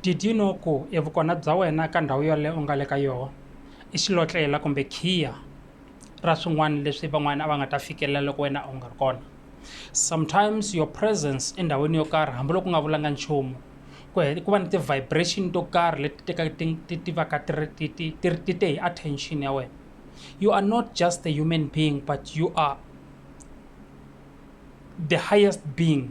Did you know ku e vukona bya wena ka ndhawu yaleyo u nga le ka yoho i xilotlela kumbe khiya ra swin'wani leswi van'wani a va nga ta fikelela loko wena u nga ri kona sometimes your presence endhawini yo karhi hambiloko u nga vulanga nchumu ku ku va ni ti-vibration to karhi leti tekaka ti ti ti va ka ti ri ti ti ti ri ti te hi attention ya wena you are not just a human being but you are the highest being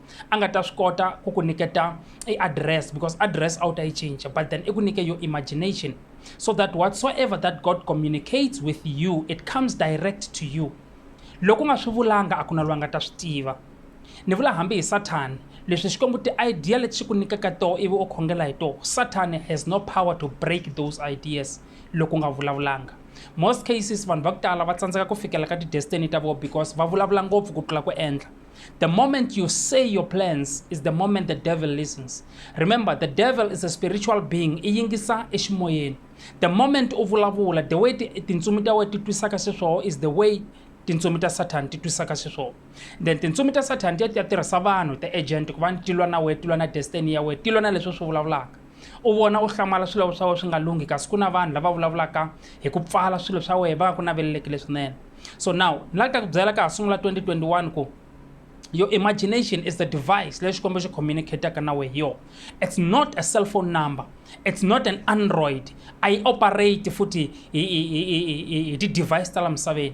a nga ta swi kota ku ku nyiketa i address because address a wu ta yi cinca but then i ku nyike your imagination so that whatsoever that god communicates with you it comes direct to you loko u nga swi vulanga a ku na loyi a nga ta swi tiva ni vula hambi hi sathani leswi xikwembu ti-idea leti xi ku nyikaka toho ivi u khongela hi toho sathani has no power to break those ideas loko u nga vulavulanga most cases vanhu va ku tala va tsandzeka ku fikela ka ti-destiny ta vona because va vulavula ngopfu ku tlula ku endla The moment you say your plans is the moment the devil listens. Remember, the devil is a spiritual being. Iyingisa ishmoyen. The moment uvulavula, the way tintsumi ta wena ti twisaka xiswona is the way tintsumi ta Satan ti twisaka xiswona. Then tintsumi ta Satan ti ya ti ya tirhisa vanhu, the agent, ku va ti lwa na wena, ti lwa na destiny ya wena, ti lwa na leswi swi vulavulaka. u vona u hlamala swilo swa wena swi nga lunghi kasi ku na vanhu lava vulavulaka hi ku pfala swilo swa wena va nga ku naveleleki leswinene so now ni la ta ku byela ka ha sungula 2021 ku your imagination is the device leyi xikombo xi communicataka na we hi yona it's not a cell phone number it's not an android a yi operate futhi hi ti-device ta la misaveni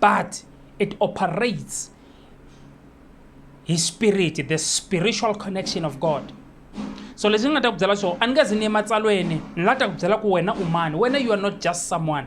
but it operates hi spirit the spiritual connection of god so leswi ni nga ta ku byela swona a ni nga zi ni ematsalweni ni la ta ku byela ku wena u mani wena you are not just someone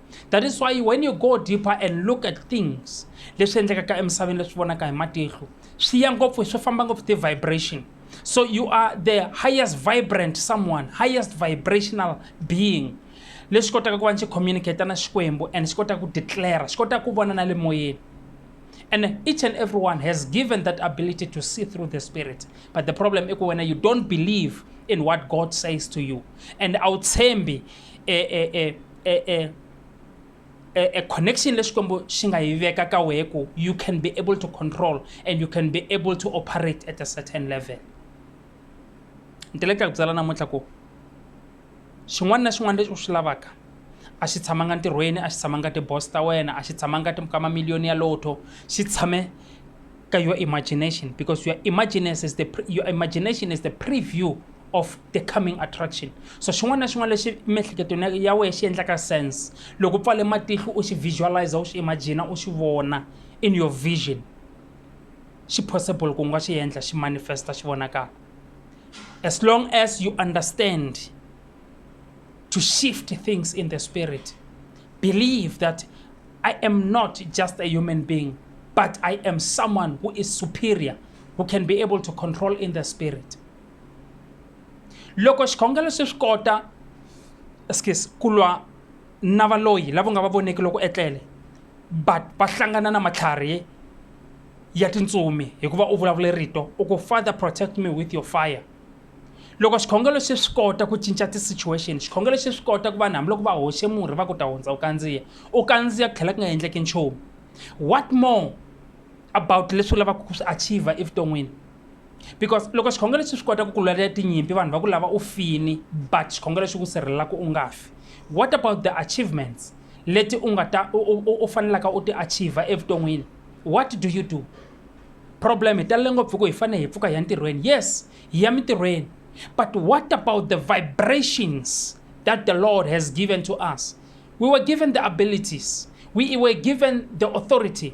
that is why when you go deeper and look at things leswi endlekaka emisaveni leswi vonaka hi matihlo swi ya ngopfu swi famba ngopfu ti-vibration so you are the highest vibrant someone highest vibrational being leswi kotaka ku va ni xi communicata na xikwembu and xi kotaka ku declare xi kotaka ku vona na le moyeni and each and everyone has given that ability to see through the spirit but the problem i ku wena you don't believe in what god says to you and awutshembi e e e e e a, a connection lesikwembu xi nga yi veka ka wehe ku you can be able to control and you can be able to operate at a certain level ni tele ka ku byala namuntlha ku xin'wana na xin'wana lexi u swi lavaka a xi tshamanga ntirhweni a xi tshamanga tiboss ta wena a xi tshamanga ka mamiliyoni ya lotto xi tshame ka your imagination because your imagination is the, your imagination is the preview of the coming attraction so xin'wana na xin'wana lexi miehleketweni ya wehe xi endlaka sense loko u pfale matihlo u xi visualize u xi imagina u xi vona in your vision xi possible ku nga xi endla xi manifesta xi vonakala as long as you understand to shift things in the spirit believe that i am not just a human being but i am someone who is superior who can be able to control in the spirit loko xikhongelo se swi kota skes ku lwa na valoyi lava nga va voneki loko etlele but va hlangana na matlhari ya tintsumi hikuva u vulavule rito u ku father protect me with your fire loko xikhongelo se swi kota ku cinca ti-situation xikhongelo se swi kota ku vanhu hambiloko va hoxe murhi va ku ta hundza u kandziya u kandziya ku tlhela ku nga endleki nchumu what more about leswi u lavaka ku swi achiever evuton'wini because loko xikhongelo xi swi kota ku ku lwela tinyimpi vanhu va ku lava u fini but xikhongelo xi ku sirhelela ku u nga fi what about the achievements leti u nga ta u fanelaka u ti achiever evuton'wini what do you do problem hi talele ngopfu ku hi fanele hi pfuka hi ya ntirhweni yes hi ya mintirhweni but what about the vibrations that the lord has given to us we were given the abilities we were given the authority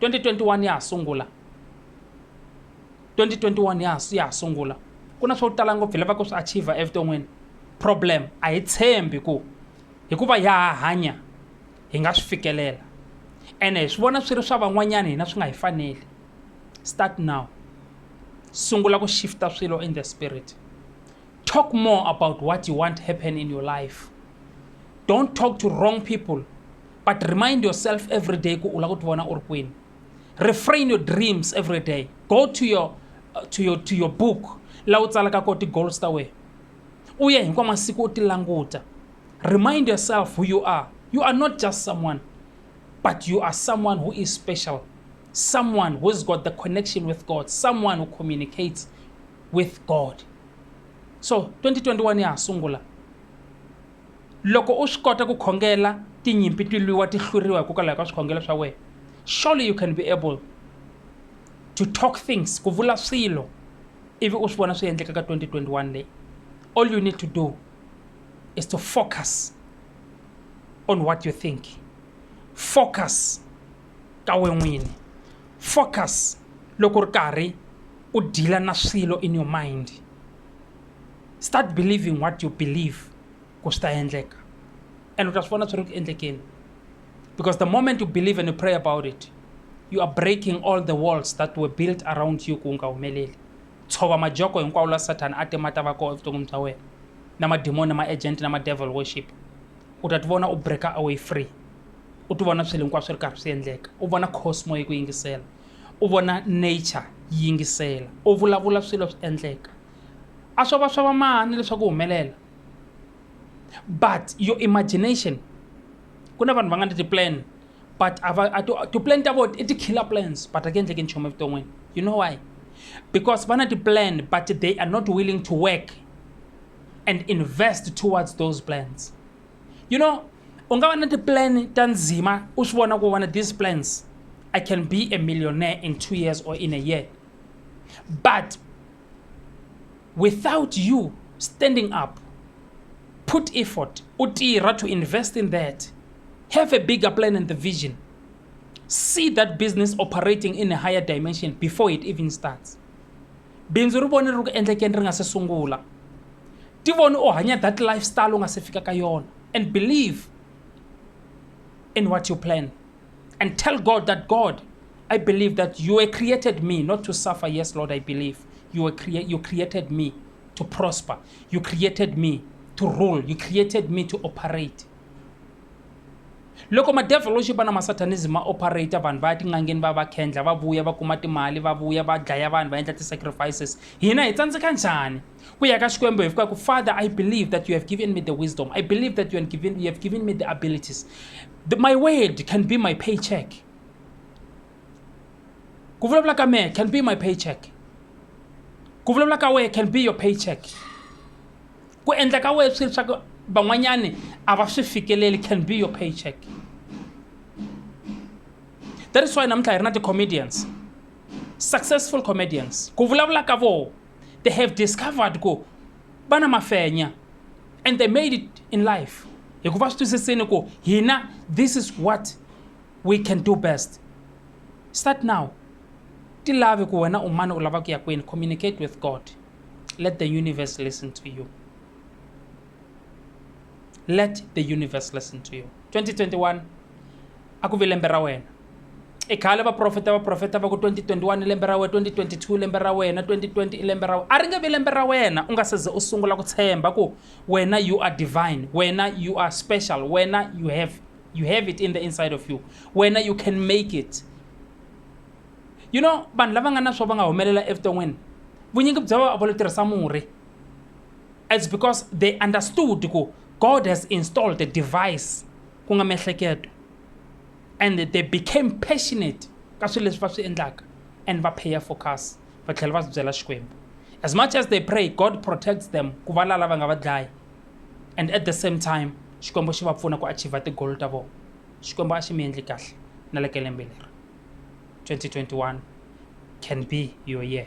2021 ya ha sungula 2021 ya ya ha sungula ku na swo tala ngopfu hi lava ku swi achieve evuton'wini problem a hi tshembi ku hikuva ya ha hanya hi nga swi fikelela ene hi swi vona swi ri swa van'wanyana hina swi nga hi faneli start now sungula ku shifta swilo in the spirit talk more about what you want happen in your life don't talk to wrong people but remind yourself every day ku u lava ku ti vona u ri kwini refrain your dreams every day go to your, uh, to your, to your book laha u tsalaka ko ti-goals ta wena u ye hinkwa masiku u ti languta remind yourself who you are you are not just someone but you are someone who is special someone who's got the connection with god someone who communicates with god so 2021 ya ha sungula Loko u swi kota ku khongela tinyimpi ti lwiwa ti hluriwa hikokwalaho ka swikhongelo swa wena, surely you can be able to talk things, ku vula swilo ivi u swi vona swi endleka ka 2021 leyi. All you need to do is to focus on what you think, focus ka we n'wini, focus loko u ri karhi u deal-a na swilo in your mind. start believing what you believe ku swi ta endleka and u ta swi vona swi ri ku endlekeni because the moment you believe and you pray about it you are breaking all the walls that were built around you ku u nga humeleli tshova majoko hinkwawo la sathana a timata va koho evuton'wini bya wena na mademoni na ma-agent na ma-devil worship u ta ti vona u breaker away free u ti vona swilo hinkwaswo swi ri karhi swi endleka u vona cosmo yi ku yingisela U vona nature yi yingisela, u vulavula swilo swi endleka. A swo va swa va mani leswaku humelela. But your imagination ku na vanhu va nga ni ti-plan but a va a to ti-plan ta vona i ti-killer plans but a ku endleki nchumu evuton'wini you know why because va na ti-plan but they are not willing to work and invest towards those plans. you know u nga va na tiplan ta ndzima u swi vona ku vona these plans i can be a millionaire in two years or in a year but without you standing up put effort u tirha to invest in that have a bigger plan and the vision see that business operating in a higher dimension before it even starts Bindzu ri vone ri ri ku endlekeni ri nga se sungula. Ti vone u hanya that lifestyle u nga se fika ka yona and believe in what you plan and tell God that God I believe that you were created me not to suffer yes Lord I believe you were crea you created me to prosper you created me to rule you created me to operate Loko madevoluxi vana ma Satanism ma operator, vanhu va ya tin'angeni va ya va khendla, va vuya va kuma timali, va vuya va dlaya vanhu, va endla ti sacrifices. Hina hi tsandzeka njhani ku ya ka Xikwembu hi fika ku, Father, I believe that you have given me the wisdom, I believe that you have given, you have given me the abilities. The, my word can be my paycheck. ku vulavula ka mehe can be my paycheck ku vulavula ka wehe can be your paycheck ku endla ka wehe swilo swa ku van'wanyani a va swi fikeleli can be your paycheck that is why namuntlha hi ri na ti-comedians successful comedians ku vulavula ka voho they have discovered ku va na mafenya and they made it in life hikuva swi twisisini ku hina this is what we can do best start now ti lavi ku wena u mani u lava ku ya kwini communicate with god let the universe listen to you let the universe listen to you 2021 a ku vi lembe ra wena i khale vaprofeta vaprofeta va ku 2021 i lembe ra wena 2022 i lembe ra wena 2020 i lembe ra wena a ri nge vi lembe ra wena u nga se ze u sungula ku tshemba ku wena you are divine wena you are special wena you have you have it in the inside of you wena you can make it you know vanhu lava nga na swo va nga humelela evuton'wini vunyingi bya va va lo tirhisa murhi it's because they understood ku god has installed a device ku nga miehleketo and they became passionate ka swilo leswi va swi endlaka and va paya focus va tlhela va swi byela xikwembu as much as they pray god protects them ku va lala va nga va dlayi and at the same time xikwembu xi va pfuna ku achiever tigolo ta vona xikwembu a xi mi endli kahle na le ka lembe leri 2021 can be your year